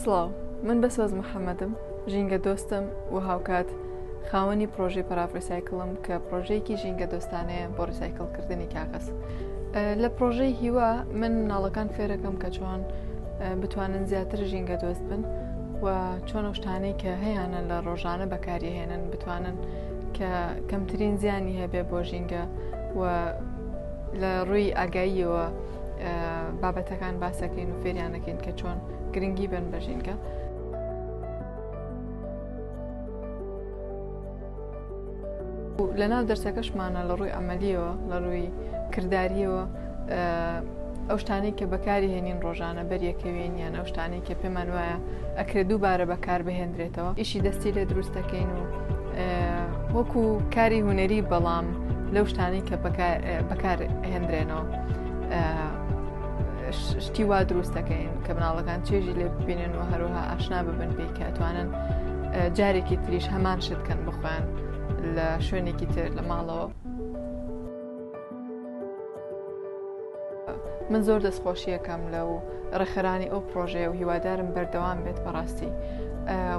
سڵاو من بە سۆز محەممەدم ژینگە دۆستم و هاوکات خاوەنی پرۆژەی پرافریسایکلم کە پرۆژەیەکی ژینگە دۆستانەیە بۆ ڕیسایکلکردنی کاغەز لە پرۆژەی هیوا من ناڵەکان فێرەکەم کە چۆن بتوانن زیاتر ژینگە دۆست بن و چۆن شتانەی کە هەیەە لە ڕۆژانە بەکاریهێنن بتوانن کە کەمترین زیانی هەبێ بۆ ژینگە و لە ڕووی ئاگاییەوە بابەتەکان باسەکەین و فێریانەکەین کە چۆن گرنگی بن بە ژینگە. لە ناو دەرسەکەشمانە لە ڕووی ئەمەلیەوە لە ڕووی کردداریەوە ئەو شتانەی کە بەکاری هێنین ڕۆژانە بەریەکەوێن یان ئەو شتانەی کە پێمان وایە ئەکرێت دووبارە بەکار بهێندرێتەوە ئیشی دەستی لێ دروست دەکەین و وەکو کاری هوەری بەڵام لەو شتانی کە بەکار هێندرێنەوە شتی وا دروست دەکەین کە مناڵەکان چێژی لێ ببینن و هەروها ئاشنا ببن پێی کە توانن جارێکی تریش هەمان شتکەن بخۆیان لە شوێنێکی تر لە ماڵەوە من زۆر دەستخۆشیەکەم لە و ڕێخرانی ئەو پرۆژەیە و هیوادارم بەردەوام بێت بەڕاستی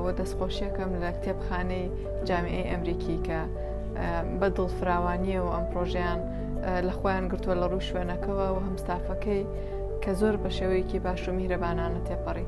و دەستخۆشیەکەم لە کتێبخانەی جامعی ئەمریکی کە بە دڵ فراوانیە و ئەم پرۆژیان لە خۆیان گرتووە لە ڕوو شوێنەکەەوە و هەمستافەکەی کە زۆر بە شێوەیەکی باش و میرەبانانە تێپەڕی.